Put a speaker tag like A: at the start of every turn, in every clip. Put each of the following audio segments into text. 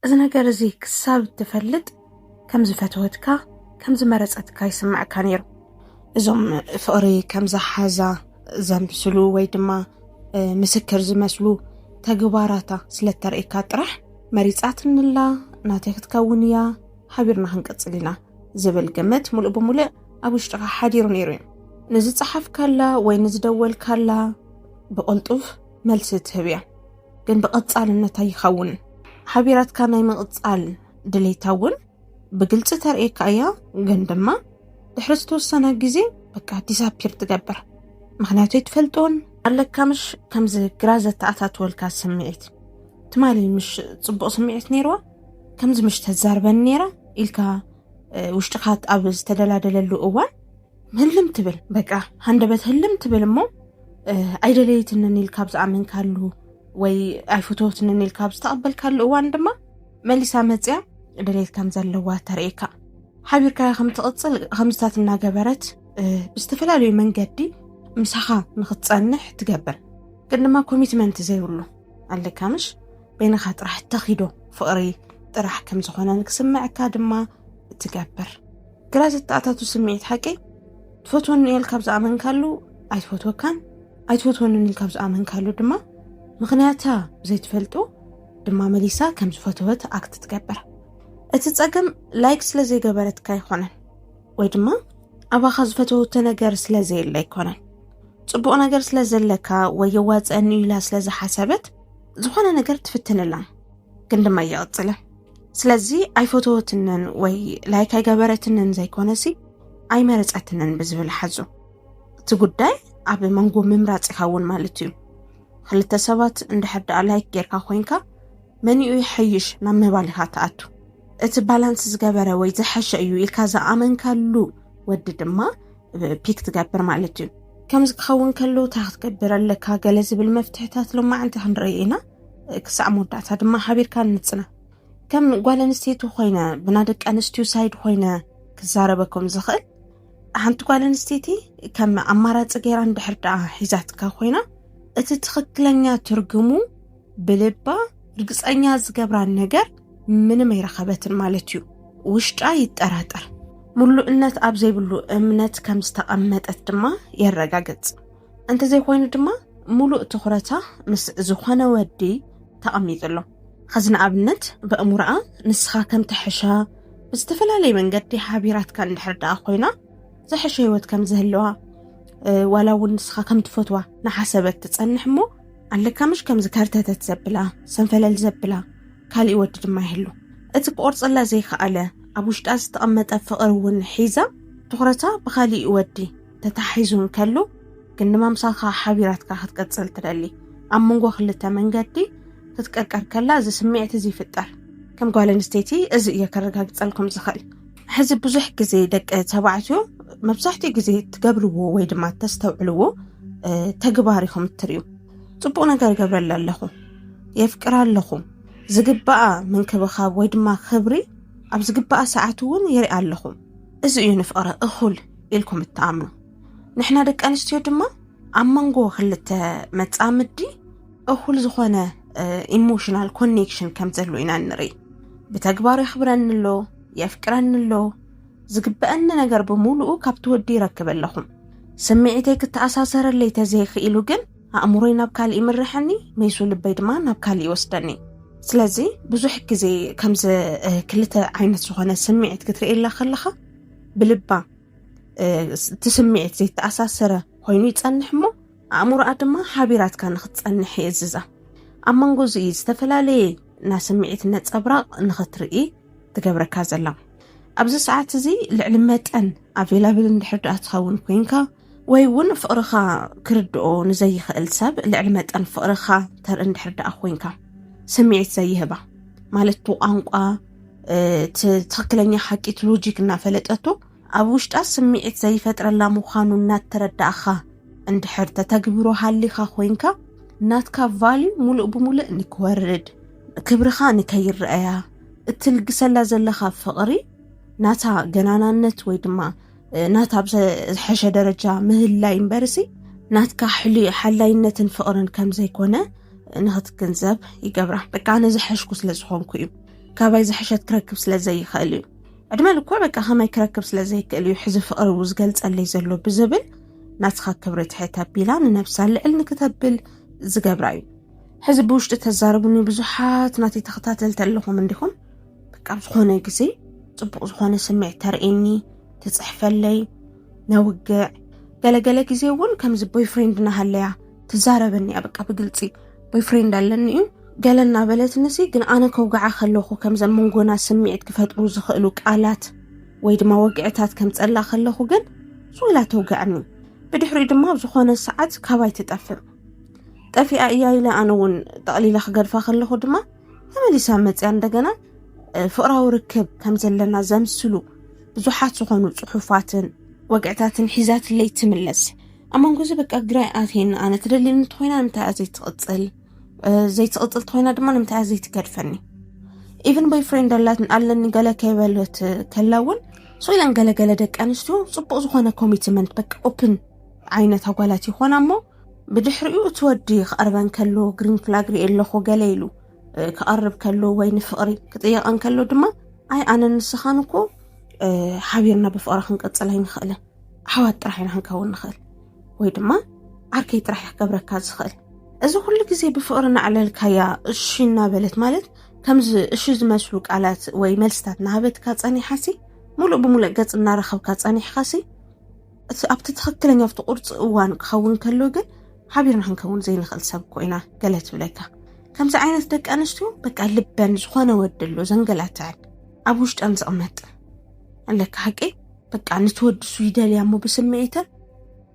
A: እዚ ነገር እዚ ክሳብ እትፈልጥ ከም ዝፈተወትካ ከም ዝመረጸትካ ይስምዐካ ነይሩ። እዞም ፍቕሪ ከም ዝሓዛ ዘምስሉ ወይ ድማ ምስክር ዝመስሉ ተግባራታ ስለ እተርእየካ ጥራሕ መሪጻትንላ ናተይ ክትከውን እያ ሓቢርና ክንቅጽል ኢና ዝብል ግምት ሙሉእ ብሙሉእ ኣብ ውሽጥኻ ሓዲሩ ነይሩ እዩ። ንዝጸሓፍካላ ወይ ንዝደወልካላ ብቕልጡፍ መልሲ ትህብ እያ። ግን ብቐጻልነት ኣይኸውን ሓቢራትካ ናይ ምቕጻል ድሌታ እውን ብግልፂ ተርእየካ እያ ግን ድማ ድሕሪ ዝተወሰነ ግዜ በቃ ዲዛፒር ትገብር ምክንያቱ ይትፈልጦን ኣለካ ምሽ ከምዚ ግራ ዘተኣታትወልካ ስምዒት ትማሊ ምሽ ፅቡቅ ስምዒት ነይርዋ ከምዚ ምሽ ተዛርበን ነይራ ኢልካ ውሽጥካ ኣብ ዝተደላደለሉ እዋን ህልም ትብል በቃ ሃንደበት ህልም ትብል እሞ ኣይደለየትንን ኢል ካብ ዝኣመንካሉ ወይ ኣይፍትወትንን ኢል ካብ ዝተቐበልካሉ እዋን ድማ መሊሳ መፅያ ደሌት ከም ዘለዋ ተርእካ ሓቢርካ ከምትቕፅል ከምዝታት እናገበረት ብዝተፈላለዩ መንገዲ ምሳኻ ንክትፀንሕ ትገብር ግን ድማ ኮሚትመንት ዘይብሉ ኣለካ ምሽ በይንኻ ጥራሕ ተኺዶ ፍቕሪ ጥራሕ ከም ዝኾነ ክስምዐካ ድማ እትገብር ግራ ዘተኣታቱ ስምዒት ሓቂ ትፈትወኒ እየ ኢልካ ዝኣመንካሉ ኣይትፈትወካን ኣይትፈትወንን ኢልካ ዝኣመንካሉ ድማ ምክንያታ ዘይትፈልጡ ድማ መሊሳ ከም ዝፈተወት ኣክት ትገብር እቲ ፀገም ላይክ ስለ ዘይገበረትካ ኣይኮነን ወይ ድማ ኣባኻ ዝፈተወቶ ነገር ስለ ዘየለ ኣይኮነን ፅቡቕ ነገር ስለ ዘለካ ወይ የዋፀአኒ ኢላ ስለ ዝሓሰበት ዝኾነ ነገር ትፍትንላ ግን ድማ እየቕፅልን ስለዚ ኣይፈተወትንን ወይ ላይክ ኣይገበረትንን ዘይኮነሲ ኣይመረፀትንን ብዝብል ሓዙ እቲ ጉዳይ ኣብ መንጎ ምምራፅ ኢኻ እውን ማለት እዩ ክልተ ሰባት እንድሕር ደኣ ላይክ ጌርካ ኮንካ መኒኡ ይሐይሽ ናብ ምባል ኢኻ ትኣቱ እቲ ባላንስ ዝገበረ ወይ ዝሐሸ እዩ ኢልካ ዝኣመንካሉ ወዲ ድማ ፒክ ትገብር ማለት እዩ ከምዚ ክኸውን ከሎ እንታይ ክትገብር ኣለካ ገለ ዝብል መፍትሕታት ሎማዕንቲ ክንርኢ ኢና ክሳዕ መወዳእታ ድማ ሓቢርካ ንጽና ከም ጓል ኣንስተይቲ ኮይነ ብና ደቂ ኣንስትዩ ሳይድ ኮይነ ክዛረበኩም ዝኽእል ሓንቲ ጓል ኣንስተይቲ ከም ኣማራፂ ገይራ እንድሕር ደኣ ሒዛትካ ኮይና እቲ ትኽክለኛ ትርጉሙ ብልባ ርግፀኛ ዝገብራን ነገር ምንም ኣይረኸበትን ማለት እዩ ውሽጣ ይጠራጠር ምሉእነት ኣብ ዘይብሉ እምነት ከም ዝተቐመጠት ድማ የረጋግጽ እንተዘይኮይኑ ድማ ሙሉእ ትኹረታ ምስ ዝኾነ ወዲ ተቐሚጡ ኣሎ ኸዚ ንኣብነት በእሙርኣ ንስኻ ከምቲ ሕሻ ብዝተፈላለየ መንገዲ ሓቢራትካ እንድሕር ደኣ ኮይና ዝሐሸ ህይወት ከም ዝህለዋ ዋላ እውን ንስኻ ከም ትፈትዋ ንሓሰበት ትፀንሕ እሞ ኣለካ ምሽ ከምዚ ከርተተት ዘብላ ሰንፈለል ዘብላ ካሊእ ወዲ ድማ ይህሉ እቲ ክቆርፀላ ዘይከኣለ ኣብ ውሽጣ ዝተቐመጠ ፍቕሪ እውን ሒዛ ትኩረታ ብካሊእ ወዲ ተታሒዙ እንከሎ ግን ንመምሳኻ ሓቢራትካ ክትቀጽል ትደሊ ኣብ መንጎ ክልተ መንገዲ ክትቀርቀር ከላ እዚ ስምዒት እዚ ይፍጠር ከም ጓል ኣንስተይቲ እዚ እየ ከረጋግጸልኩም ዝኽእል ሕዚ ብዙሕ ግዜ ደቂ ተባዕትዮ መብዛሕትኡ ግዜ ትገብርዎ ወይ ድማ ተስተውዕልዎ ተግባር ኢኹም እትርዩ ፅቡቅ ነገር ይገብረለ ኣለኹ የፍቅራ ኣለኹ ዝግባኣ ምንክብኻብ ወይ ድማ ክብሪ ኣብ ዝግባኣ ሰዓት እውን ይርኢ ኣለኹ እዚ እዩ ንፍቅረ እኹል ኢልኩም እትኣምኑ ንሕና ደቂ ኣንስትዮ ድማ ኣብ መንጎ ክልተ መፃምዲ እኹል ዝኾነ ኢሞሽናል ኮኔክሽን ከም ዘሎ ኢና ንርኢ ብተግባር የኽብረኒ ኣሎ የፍቅረኒ ኣሎ ዝግበአኒ ነገር ብምሉኡ ካብቲ ወዲ ይረክብ ኣለኹም ስምዒተይ ክተኣሳሰረለይ ተዘይኽኢሉ ግን ኣእምሮይ ናብ ካልእ ይምርሐኒ ሜሱ ልበይ ድማ ናብ ካልእ ይወስደኒ ስለዚ ብዙሕ ግዜ ከምዚ ክልተ ዓይነት ዝኾነ ስምዒት ክትርእየላ ከለኻ ብልባ እቲ ስምዒት ዘይተኣሳሰረ ኮይኑ ይፀንሕ እሞ ኣእምሮኣ ድማ ሓቢራትካ ንክትፀንሕ ይእዝዛ ኣብ መንጎ እዚ እዩ ዝተፈላለየ ናይ ስምዒት ነፀብራቕ ንክትርኢ ትገብረካ ዘላ ኣብዚ ሰዓት እዚ ልዕሊ መጠን ኣቬላብል እንድሕር ድኣ ትኸውን ኮይንካ ወይ እውን ፍቕርኻ ክርድኦ ንዘይኽእል ሰብ ልዕሊ መጠን ፍቕርኻ ተርኢ እንድሕር ደኣ ኮንካ ስምዒት ዘይህባ ማለት እቲ ቋንቋ ትኽክለኛ ሓቂ እቲ ሎጂክ እናፈለጠቶ ኣብ ውሽጣ ስምዒት ዘይፈጥረላ ምዃኑ እናተረዳእኻ እንድሕር ተተግብሮ ሃሊኻ ኮንካ ናትካ ቫልዩ ሙሉእ ብሙሉእ ንክወርድ ክብርኻ ንከይረአያ እትልግሰላ ዘለኻ ፍቕሪ ናታ ገናናነት ወይ ድማ ናታ ኣብ ዝሐሸ ደረጃ ምህላይ እምበርሲ ናትካ ሕሉይ ሓላይነትን ፍቕርን ከም ዘይኮነ ንኽትግንዘብ ይገብራ በቃ ኣነ ዝሐሽኩ ስለ ዝኾንኩ እዩ ካባይ ዝሐሸት ክረክብ ስለ ዘይኽእል እዩ ዕድመ ልኮ በቃ ከማይ ክረክብ ስለ ዘይክእል እዩ ሕዚ ፍቕሪ ው ዝገልፀለይ ዘሎ ብዝብል ናትኻ ክብሪ ትሕት ኣቢላ ንነብሳ ልዕል ንክተብል ዝገብራ እዩ ሕዚ ብውሽጢ ተዛረቡኒ ብዙሓት ናተይ ተኸታተልቲ ኣለኹም እንዲኹም በቃ ኣብ ዝኾነ ግዜ ፅቡቕ ዝኾነ ስምዒት ተርእየኒ ትፅሕፈለይ ነውግዕ ገለገለ ግዜ እውን ከምዚ ቦይፍሬንድ ናሃለያ ትዛረበኒ እያ በቃ ብግልፂ ቦይፍሬንድ ኣለኒ እዩ ገለ እናበለትኒ ሲ ግን ኣነ ከውግዓ ከለኹ ከምዘን መንጎና ስምዒት ክፈጥሩ ዝኽእሉ ቃላት ወይ ድማ ወግዕታት ከምፀላ ከለኹ ግን ስውላ ተውግዕኒ ብድሕሪኡ ድማ ኣብ ዝኾነ ሰዓት ካባይ ትጠፍእ ጠፊኣ እያ ኢለ ኣነ እውን ጠቕሊለ ክገድፋ ከለኹ ድማ ተመሊሳ መፅያ እንደገና ፍቕራዊ ርክብ ከም ዘለና ዘምስሉ ብዙሓት ዝኾኑ ፅሑፋትን ወግዕታትን ሒዛትለይ ትምለስ ኣብ መንጎ እዚ በቃ ግራይ ኣትየኒ ኣነ ትደልየኒ እንተኮይና ንምንታይ እያ ዘይትቕፅል ዘይትቕፅል ተኮይና ድማ ንምንታይ እያ ዘይትገድፈኒ ኢቨን ቦይ ፍሬንድ ኣለኒ ገለ ከይበለት ከላ እውን ሶ ኢለን ገለገለ ደቂ ኣንስትዮ ፅቡቅ ዝኾነ ኮሚትመንት በቃ ኦፕን ዓይነት ኣጓላት ይኾና እሞ ብድሕሪኡ እቲ ወዲ ክቐርበን ከሎ ግሪን ፍላግ ሪኤ ኣለኹ ገለ ኢሉ ክቐርብ ከሎ ወይ ንፍቕሪ ክጥየቐን ከሎ ድማ ኣይ ኣነን ንስኻን እኮ ሓቢርና ብፍቕሪ ክንቅፅል ኣይንኽእልን ኣሕዋት ጥራሕ ኢና ክንከውን ንኽእል ወይ ድማ ዓርከይ ጥራሕ ክገብረካ ዝኽእል እዚ ኩሉ ግዜ ብፍቕሪ ናዕለልካያ እሺ እናበለት ማለት ከምዚ እሺ ዝመስሉ ቃላት ወይ መልስታት ናሃበትካ ፀኒሓሲ ሙሉእ ብሙሉእ ገፅ እናረኸብካ ፀኒሕኻሲ እቲ ኣብቲ ትኽክለኛ ኣብቲ ቁርፂ እዋን ክኸውን ከሎ ግን ሓቢርና ክንከውን ዘይንኽእል ሰብ እኮ ኢና ገለ ትብለካ ከምዚ ዓይነት ደቂ ኣንስትዮ በቃ ልበን ዝኾነ ወዲ ኣሎ ዘንገላትዐን ኣብ ውሽጠን ዝቕመጥ ኣለካ ሓቂ በቃ ነቲ ወዲ እሱ ይደልያ እሞ ብስምዒተን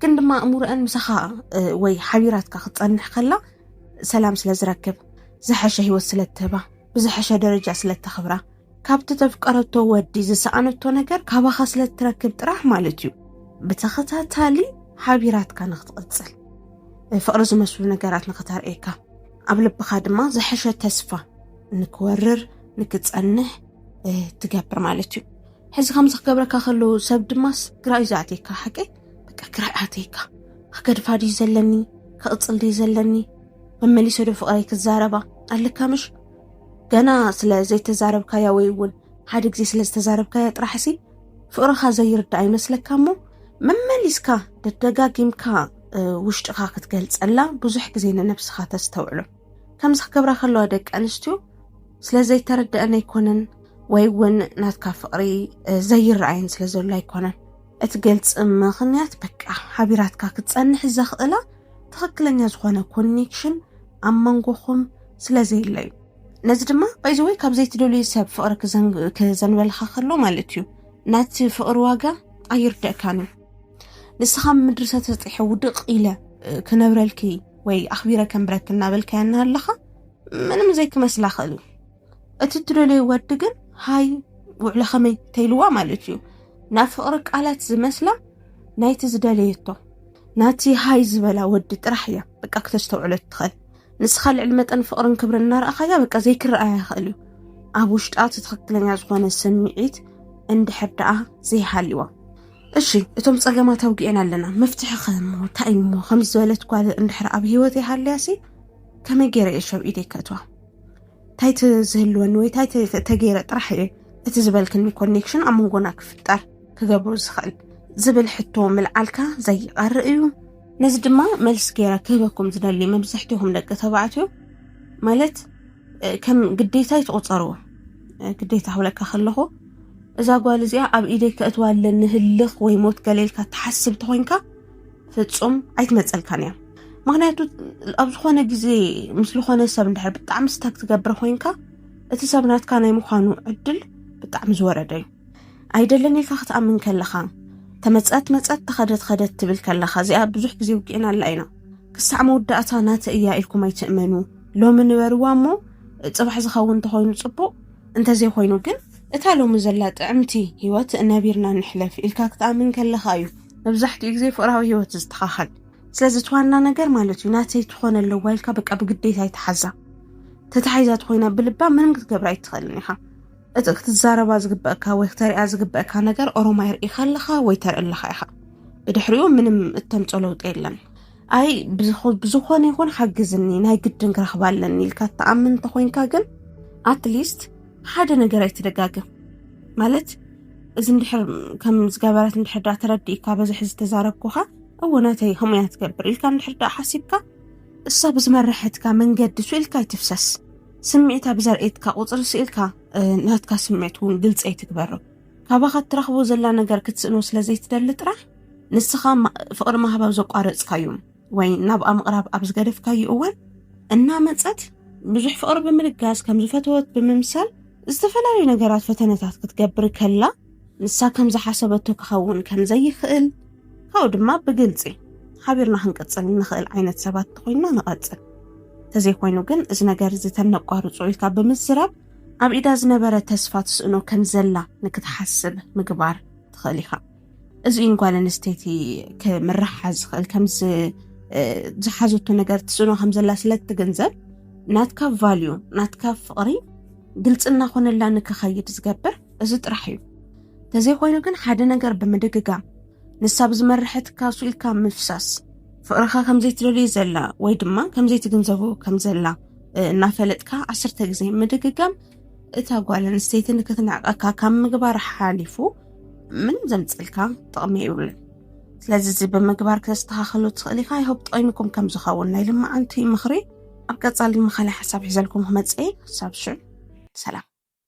A: ግን ድማ እሙርአን ምሳኻ ወይ ሓቢራትካ ክትፀንሕ ከላ ሰላም ስለ ዝረክብ ዝሐሸ ህይወት ስለ እትህባ ብዝሐሸ ደረጃ ስለ እተኽብራ ካብቲ ተፍቀረቶ ወዲ ዝሰኣነቶ ነገር ካባኻ ስለ እትረክብ ጥራሕ ማለት እዩ ብተኸታታሊ ሓቢራትካ ንክትቕጽል ፍቕሪ ዝመስሉ ነገራት ንክተርእየካ ኣብ ልብኻ ድማ ዝሐሸ ተስፋ ንክወርር ንክጸንሕ ትገብር ማለት እዩ ሕዚ ከምዚ ክገብረካ ከለዉ ሰብ ድማስ ግራ እዩ ዝኣትየካ ሓቂ በቃ ግራ ኣትየካ ክገድፋ ድዩ ዘለኒ ክቕፅል ድዩ ዘለኒ መመሊሰ ዶ ፍቕረይ ክዛረባ ኣለካ ምሽ ገና ስለ ዘይተዛረብካያ ወይ እውን ሓደ ግዜ ስለ ዝተዛረብካያ ጥራሕሲ ፍቕርኻ ዘይርዳእ ይመስለካ እሞ መመሊስካ ደደጋጊምካ ውሽጥኻ ክትገልጸላ ብዙሕ ግዜ ንነብስኻ ተስተውዕሎ ከምዚ ክገብራ ከለዋ ደቂ ኣንስትዮ ስለ ዘይተረድአን ኣይኮነን ወይ እውን ናትካ ፍቕሪ ዘይረኣየን ስለ ዘሎ ኣይኮነን እቲ ግልፂ ምኽንያት በቃ ሓቢራትካ ክትፀንሕ ዘኽእላ ትኽክለኛ ዝኾነ ኮኔክሽን ኣብ መንጎኹም ስለዘየለ እዩ። ነዚ ድማ ባይዘወይ ካብ ዘይትደልዩ ሰብ ፍቕሪ ክዘንበልኻ ከሎ ማለት እዩ ናቲ ፍቕሪ ዋጋ ኣይርደእካን እዩ ንስኻ ምድሪ ሰተጥሐ ውድቅ ኢለ ክነብረልኪ ወይ ኣኽቢረ ከንብረኪ እናበልካያ እናሃለኻ ምንም ዘይክመስላ ክእል እዩ እቲ እትደለዮ ወዲ ግን ሃይ ውዕለ ከመይ ተይልዋ ማለት እዩ ናብ ፍቕሪ ቃላት ዝመስላ ናይቲ ዝደለየቶ ናቲ ሃይ ዝበላ ወዲ ጥራሕ እያ በቃ ክተስተውዕሎ ትኽእል ንስኻ ልዕሊ መጠን ፍቕርን ክብርን እናረኣኻያ በቃ ዘይክረኣያ ይኽእል እዩ ኣብ ውሽጣ እቲ ትኽክለኛ ዝኾነ ስምዒት እንድሕር ደኣ ዘይሃልዋ እሺ እቶም ፀገማት ኣውግኤን ኣለና መፍትሒ ከሞ እንታይ እሞ ከምዚ ዝበለት ጓል እንድሕር ኣብ ሂወት ይሃልያሲ ከመይ ገይረ እየ ሸብ ኢደይ ከእትዋ እንታይ ትዝህልወኒ ወይ እንታይ ተገይረ ጥራሕ እየ እቲ ዝበልክኒ ኮኔክሽን ኣብ መንጎና ክፍጠር ክገብሩ ዝኽእል ዝብል ሕቶ ምልዓልካ ዘይቐርእ እዩ ነዚ ድማ መልሲ ገይረ ክህበኩም ዝደሊ መብዛሕትኹም ደቂ ተባዕትዮ ማለት ከም ግዴታ ይትቑፀርዎ ግዴታ ክብለካ ከለኹ እዛ ጓል እዚኣ ኣብ ኢደይ ከእትዋ ኣለኒ ህልኽ ወይ ሞት ገሌልካ ትሓስብ ተኮይንካ ፍፁም ኣይትመፀልካን እያ ምክንያቱ ኣብ ዝኾነ ግዜ ምስ ዝኾነ ሰብ እንድሕር ብጣዕሚ ስታክ ትገብር ኮይንካ እቲ ሰብ ናትካ ናይ ምዃኑ ዕድል ብጣዕሚ ዝወረደ እዩ ኣይደለን ኢልካ ክትኣምን ከለኻ ተመፀት መፀት ተኸደት ኸደት ትብል ከለኻ እዚኣ ብዙሕ ግዜ ውግእናላ ኢና ክሳዕ መወዳእታ ናተ እያ ኢልኩም ኣይትእመኑ ሎሚ ንበርዋ እሞ ፅባሕ ዝኸውን እንተኾይኑ ፅቡቅ እንተዘይኮይኑ ግን እታ ሎሚ ዘላ ጥዕምቲ ሂወት ነቢርና ንሕለፍ ኢልካ ክትኣምን ከለኻ እዩ መብዛሕትኡ ግዜ ፍቅራዊ ሂወት ዝስተኻኸል ስለዚ እቲ ዋና ነገር ማለት እዩ ናተይ ትኾነ ኣለዋ ኢልካ በቃ ብግዴታ ይትሓዛ ተታሒዛ ትኾይና ብልባ ምንም ክትገብራ ኣይትኽእልን ኢኻ እቲ ክትዛረባ ዝግበእካ ወይ ክተሪያ ዝግበእካ ነገር ኦሮማይ ርኢኻ ኣለኻ ወይ ተርኢ ኣለኻ ኢኻ ብድሕሪኡ ምንም እተምፆ ለውጢ የለን ኣይ ብዝኾነ ይኹን ሓግዝኒ ናይ ግድን ክረኽባ ኣለኒ ኢልካ እትኣምን እንተኾይንካ ግን ኣትሊስት ሓደ ነገር ኣይትደጋግም ማለት እዚ እንድሕር ከም ዝገበረት እንድሕር ዳ ተረዲእካ በዚ ሕዚ ተዛረብኩኻ እዎ ናተይ ከምኡ እያ ትገብር ኢልካ እንድሕር ዳ ሓሲብካ እሳ ብዝመረሐትካ መንገዲ ስኢልካ ኣይትፍሰስ ስምዒታ ብዘርእየትካ ቁፅሪ ስኢልካ ናትካ ስምዒት እውን ግልፂ ኣይትግበርም ካባኻ እትረኽቦ ዘላ ነገር ክትስእኖ ስለ ዘይትደሊ ጥራሕ ንስኻ ፍቕሪ ማህብ ኣብ ዘቋረጽካዩ ወይ ናብኣ ምቕራብ ኣብ ዝገደፍካዩ እዋን እናመጸት ብዙሕ ፍቕሪ ብምልጋስ ከም ዝፈተወት ብምምሳል ዝተፈላለዩ ነገራት ፈተነታት ክትገብር ከላ ንሳ ከም ዝሓሰበቶ ክኸውን ከም ዘይኽእል ካብኡ ድማ ብግልፂ ሓቢርና ክንቅፅል እንኽእል ዓይነት ሰባት እንተኮይንና ንቐፅል እንተዘይኮይኑ ግን እዚ ነገር እዚ ተነቋርፆ ኢልካ ብምዝራብ ኣብ ኢዳ ዝነበረ ተስፋ ትስእኖ ከም ዘላ ንክትሓስብ ምግባር ትኽእል ኢኻ። እዚ እዩን ጓል ኣንስተይቲ ክምርሓ ዝኽእል ከምዚ ዝሓዘቶ ነገር ትስእኖ ከም ዘላ ስለ እትግንዘብ ናትካ ቫልዩ ናትካ ፍቕሪ ግልፂ እናኾነላ ንክኸይድ ዝገብር እዚ ጥራሕ እዩ። ተዘይኮይኑ ግን ሓደ ነገር ብምድግጋም ንሳ ብዝመርሐትካ ሱኢልካ ምፍሳስ ፍቕርኻ ከምዘይትደልዩ ዘላ ወይ ድማ ከምዘይትግንዘቡ ከም ዘላ እናፈለጥካ ዓስርተ ግዜ ምድግጋም እታ ጓል ኣንስተይቲ ንክትንዕቀካ ካብ ምግባር ሓሊፉ ምንም ዘምፅልካ ጥቕሚ ይብልን ስለዚ እዚ ብምግባር ክተስተኻኸሉ ትኽእል ኢኻ ይሆብ ጠቂሙኩም ከም ዝኸውን ናይ ልማዓንቲ ምኽሪ ኣብ ቀፃሊ መኻሊ ሓሳብ ሒዘልኩም ክመፅእ ክሳብ ሽዑ ሰላም